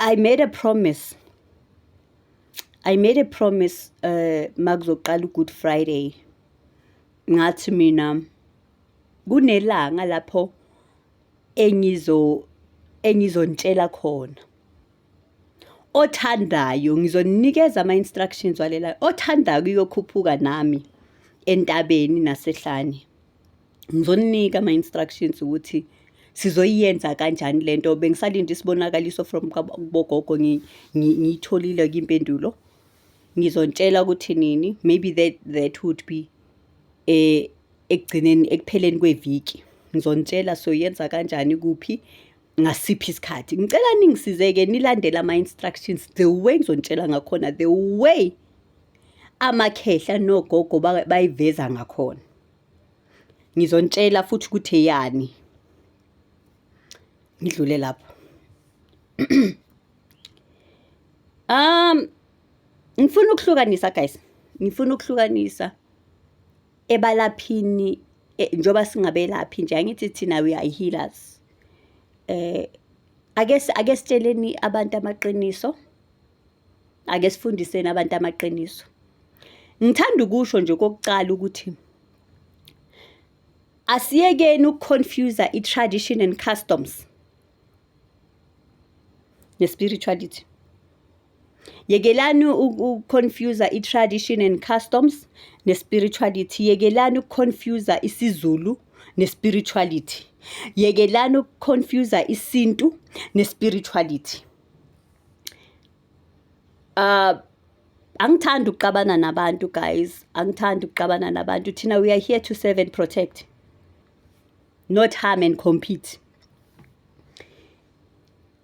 I made a promise I made a promise uh makuzoqala uGood Friday ngathi mina kunelanga lapho engizo engizontshela khona othandayo ngizonikeza ama instructions walela othandayo kuyokhuphuka nami entabeni nasehlane ngizoninika ama-instructions ukuthi sizoyiyenza kanjani le nto bengisalinde isibonakaliso from kubogogo ngiyitholile kwimpendulo ngizontshela ukuthi nini maybe that, that would be eh ekugcineni ekupheleni kweviki ngizonitshela soyenza kanjani kuphi ngasiphi isikhathi ngicela ningisizeke nilandele ama-instructions the way ngizontshela ngakhona the way amakhehla nogogo bayiveza ngakhona Ngizontshela futhi ukuthi eyani. Ngidlule lapho. Um ngifuna ukuhlukanisa guys. Ngifuna ukuhlukanisa ebalaphini e, njoba singabelaphi nje angithi thina we are healers. Eh ake ake sitsheleni abantu amaqiniso. ake sifundiseni abantu amaqiniso ngithanda ukusho nje kokuqala ukuthi asiyekeni ukuconfuse i-tradition and customs ne-spirituality yekelani ukuconfuse i-tradition and customs ne-spirituality yekelani ukuconfuse isizulu ne-spirituality yekelani ukuconfuse isintu ne-spirituality uh, angithandi ukuxabana nabantu guys angithandi ukuxabana nabantu thina we are here to serve and protect not harm and compete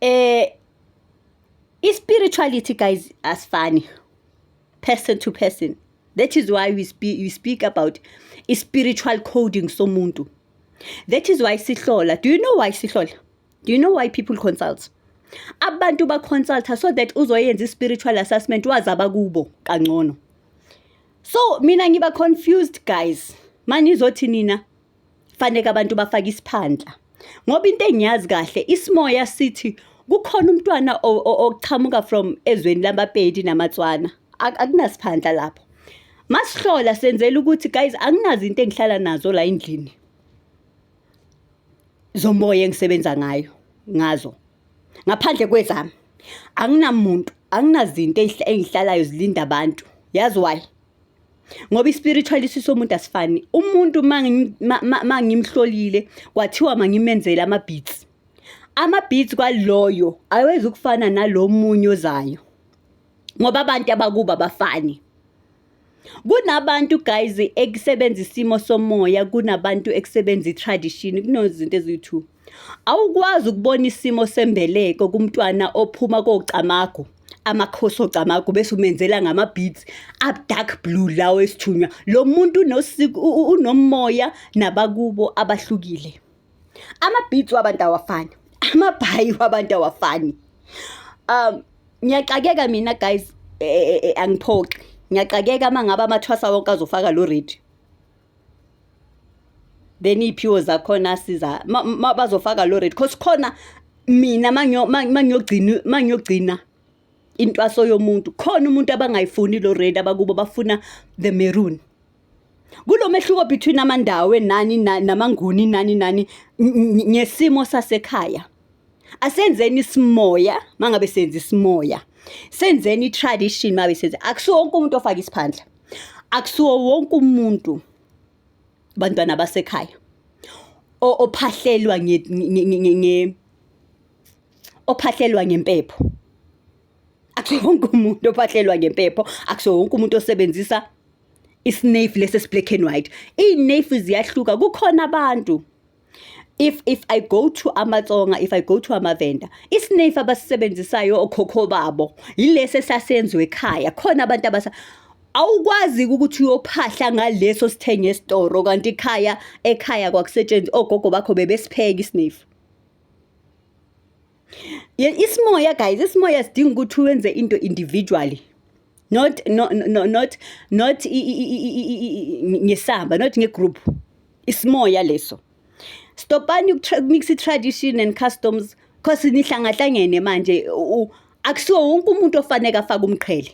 eh i-spirituality guys asifani person to person that is why we speak, we speak about i-spiritual coding somuntu that is why sihlola do you know why sihlola do you know why people consult abantu baconsulta so that uzoyenza i-spiritual assessment wazi abakubo kangcono so mina ngiba confused guys manizothi nina faneke abantu bafake isiphandla ngoba into engiyazi kahle isimoya sithi kukhona umntwana oqhamuka from ezweni lamapedi namatswana akunasiphandla lapho masihlola senzela ukuthi guys anginazi into engihlala nazo la endlini zomoya engisebenza ngayo ngazo ngaphandle kwezami anginamuntu anginazinto engihlalayo zilinda abantu yazi why ngoba i-spiritual isiso umuntu asifani umuntu uma ngimhlolile kwathiwa mangimenzele ama-beats ama-beats kwaloyo awezi ukufana nalo munye ozayo ngoba abantu abakuba bafani kunabantu guys ekusebenza isimo somoya kunabantu ekusebenza i-tradition kunozinto eziyi-two awukwazi ukubona isimo sembeleko kumntwana ophuma kocamago amakhosi ogcamagu bese umenzela ngama-beats adark blue lawo esithunywa lo muntu unomoya nabakubo abahlukile Amabhithi wabantu awafani. Amabhayi wabantu awafani. Um ngiyaxakeka mina guys e, e, e, angiphoxi. Ngiyaxakeka mangaba amathwasa wonke azofaka lo radio. Then iphiwo zakhona siza bazofaka lo radio. Cause khona mina mangiyo mangiyogcina mangiyogcina intwaso yomuntu khona umuntu abangayifuni lo red abakubo bafuna the maroon Kulomehluko between amandawe nani namanguni nani nani ngesimo sasekhaya. Asenzeni isimoya mangabe senza isimoya. Senzeni tradition mabe senza. Akusiwo wonke umuntu ofaka isiphandla. Akusiwo wonke umuntu bantwana basekhaya ophahlelwa nge ophahlelwa ngempepho akusiwo wonke umuntu ophahlelwa ngempepho akusiwo wonke umuntu osebenzisa isnafe lesi esiblack and white iy'nafe ziyahluka kukhona abantu if if i go to amatsonga if i go to amavenda isnafe abasisebenzisayo okhokho babo yilesi esasenziwe ekhaya khona abantu abasa awukwazi ukuthi uyophahla ngaleso sithenge esitoro kanti ikhaya ekhaya kwakusetshenziswa ogogo bakho bebesipheka isnafe isimoya guys isimoya sidinga ukuthi wenze into individually not no, no, not not ngesamba not ngegroup isimoya leso stopani ukmix i-tradition and customs cause nihlangahlangene manje akusiwo wonke umuntu ofaneke afake umqhele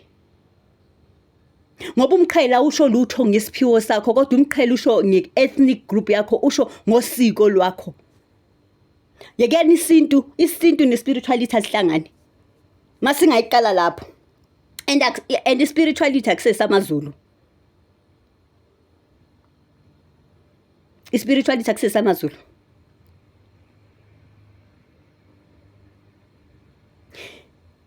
ngoba umqhela usho lutho ngesiphiwo sakho kodwa umqhela usho nge-ethnic group yakho usho ngosiko lwakho yekeni isintu isintu ne-spirituality azihlangani masingayiqala lapho and and i-spirituality akusesi amazulu i-spirituality akusesi amazulu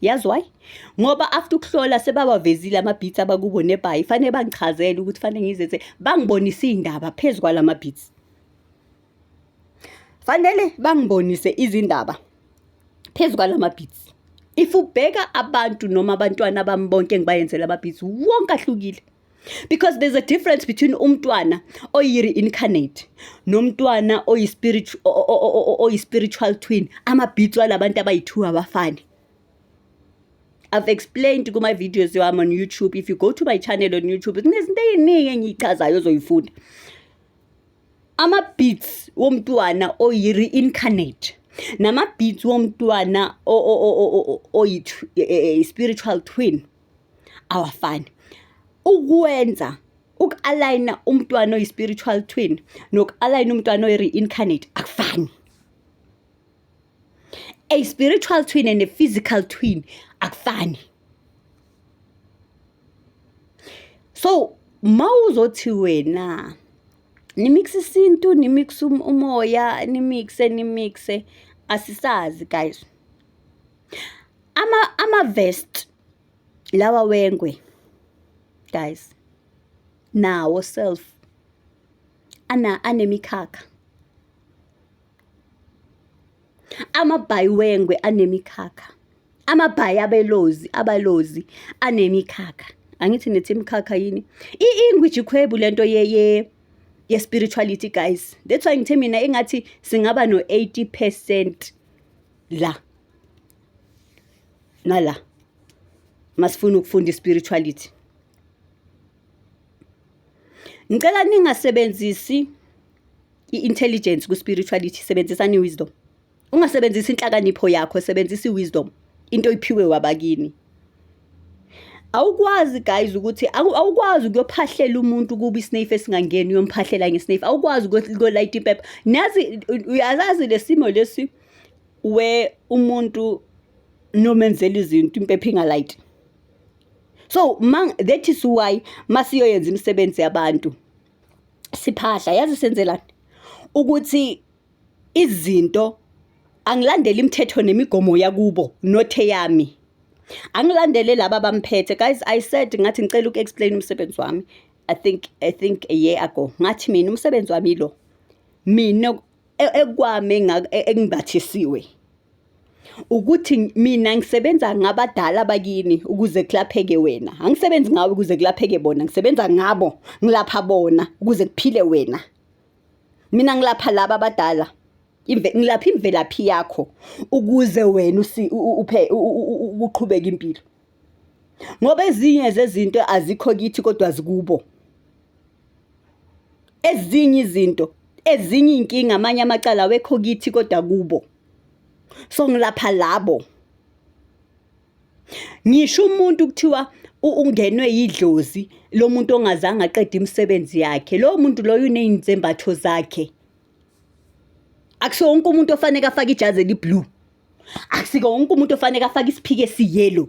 yazi why ngoba after ukuhlola sebabavezile ama-beats abakubo nebhayi fanele bangichazele ukuthi fanele ngizenze bangibonise iy'ndaba phezu kwala ma-beats fanele bangibonise izindaba phezu kwala ma-beats if ubheka abantu noma abantwana bami bonke engibayenzela ama-beats wonke ahlukile because there's a difference between umntwana oyi-reincarnate nomntwana oyi-spiritual twin amabhitso alabantu abayi-two abafani I've explained my videos I'm on YouTube. If you go to my channel on YouTube, kunezinto eziningi engiyichazayo ozoyifunda. Ama beats womntwana oyi reincarnate nama beats womntwana oyi e, e, e, spiritual twin awafani ukwenza uku-alayina umntwana oyi-spiritual twin noku-alayina umntwana oyi-reincarnate akufani a spiritual twin and a physical twin akufani so ma uzothi wena nimikse isintu nimikse um-, umoya nimikse nimikse asisazi guys ama ama vest lawa wengwe guys nawo self ana anemikhakha amabhayi wengwe anemikhakha amabhayi abelozi abalozi anemikhakha angithi nethi imikhakha yini ingwiji khwebu lento ye ye ye spirituality guys that's why ngithe mina engathi singaba no 80% la nala masifuna ukufunda ispirituality ngicela ningasebenzisi i-intelligence ku-spirituality sebenzisani i-wisdom ungasebenzisi inhlakanipho yakho sebenzisa i-wisdom into oyiphiwe wabakini awukwazi guys ukuthi awukwazi ukuyophahlela umuntu kuba isnafe esingangeni uyomphahlela ngesnafe awukwazi ukuyolayita impepha nazi uyazazi lesimo lesi we umuntu nomenzela izinto impepha ingalight so man that is why masiyoyenza imisebenzi yabantu siphahla yazi senzelani ukuthi izinto angilandele imithetho nemigomo yakubo nothe yami angilandele laba bamphethe guys i said ngathi ngicela uku-explain umsebenzi wami i think i think a year ago ngathi mina umsebenzi wami lo mina e-, ekwami e-, engibathisiwe ukuthi mina ngisebenza ngabadala bakini ukuze kulapheke wena angisebenzi ngawe ukuze kulapheke bona ngisebenza ngabo ngilapha bona ukuze kuphile wena mina ngilapha laba abadala ngilapha imvelaphi yakho ukuze wena uphe uqhubeke impilo ngoba ezinye zezinto azikho kithi kodwa zikubo ezinye izinto ezinye iy'nkinga amanye amacala awekho kithi kodwa kubo so ngilapha labo ngisho umuntu kuthiwa ungenwe yidlozi lo muntu ongazange aqede imisebenzi yakhe lowo muntu loyo uney'nzembatho zakhe akusiwo wonke umuntu ofaneke afake ijazi eliblue akusiko wonke umuntu ofaneke afake isiphike esiyelo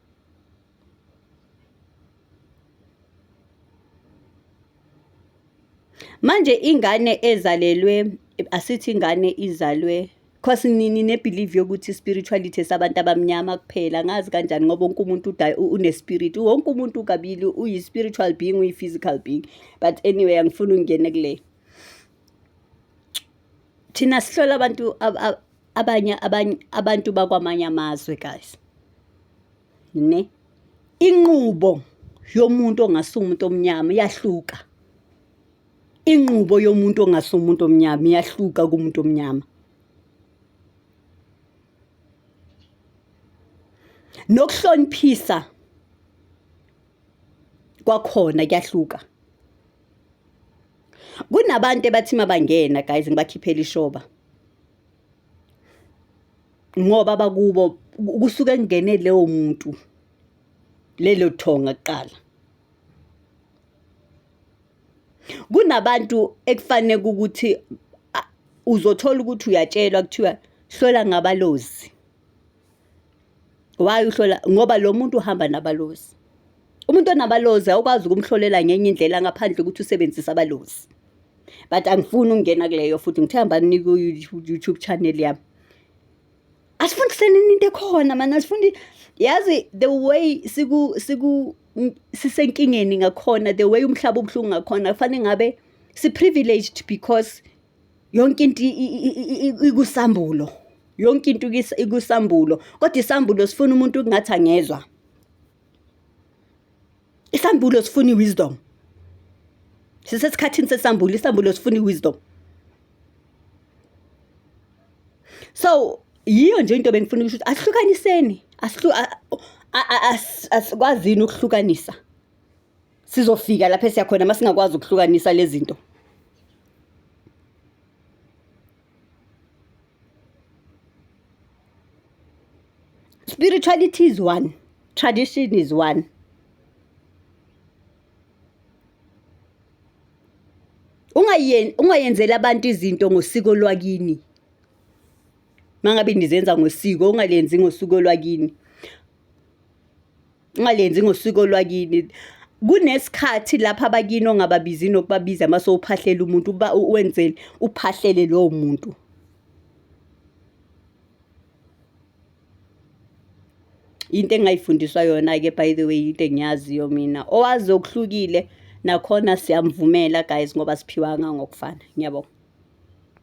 manje ingane ezalelwe asithi ingane izalwe cause nini nebelieve yokuthi spirituality esabantu abamnyama kuphela ngazi kanjani ngoba wonke umuntu unespirit wonke umuntu kabili uyi-spiritual being uyi-physical being but anyway angifuni ungene kule thina sihlola abantu abanye abanye abantu bakwamanye amazwe guys ne inqubo yomuntu ongasi umuntu omnyama iyahluka inqubo yomuntu ongasi umuntu omnyama iyahluka kumuntu omnyama nokuhloniphisa kwakhona kuyahluka kunabantu ebathi mabangena guys ngibakhiphele ishoba ngoba bakubo kusuke kungene leyo muntu lelo thonga kuqala kunabantu ekufanele ukuthi uzothola ukuthi uyatshelwa kuthiwa hlola ngabalozi Why uhlola ngoba lo muntu uhamba nabalozi. Umuntu onabalozi awukwazi ukumhlolela ngenye indlela ngaphandle ukuthi usebenzise abalozi. But angifuni ukungena kuleyo futhi ngithe hamba nginika YouTube channel yami. Asifundiseni into ekhona manje asifundi yazi the way siku siku sisenkingeni ngakhona the way umhlaba ubuhlungu ngakhona kufanele ngabe si privileged because Yonke into ikusambulo, yonke into ikusambulo kodwa isambulo sifuna umuntu okungathi angezwa. Isambulo sifuna i-wisdom. Sisesikhathini sesambulo, isambulo sifuna i-wisdom. So yiyo nje into bengifuna ukusho ukuthi asihlukaniseni, asikwazini ukuhlukanisa. Sizofika lapho esiya khona uma singakwazi ukuhlukanisa lezi zinto. Spirituality is one, tradition is one. Ungayeni ungayenzela abantu izinto ngosiko lwakini. Mangabe nizenza ngosiko ungalenzi ngosiko lwakini. Ungalenzi ngosiko lwakini. Kunesikhathi lapha abakini ongababizi nokubabiza mase uphahlela umuntu uba wenzele uphahlele lowo muntu. Into engayifundiswa yona-ke by the way into engiyaziyo mina owazi okuhlukile nakhona siyamvumela guys ngoba siphiwanga ngokufana ngiyabonga.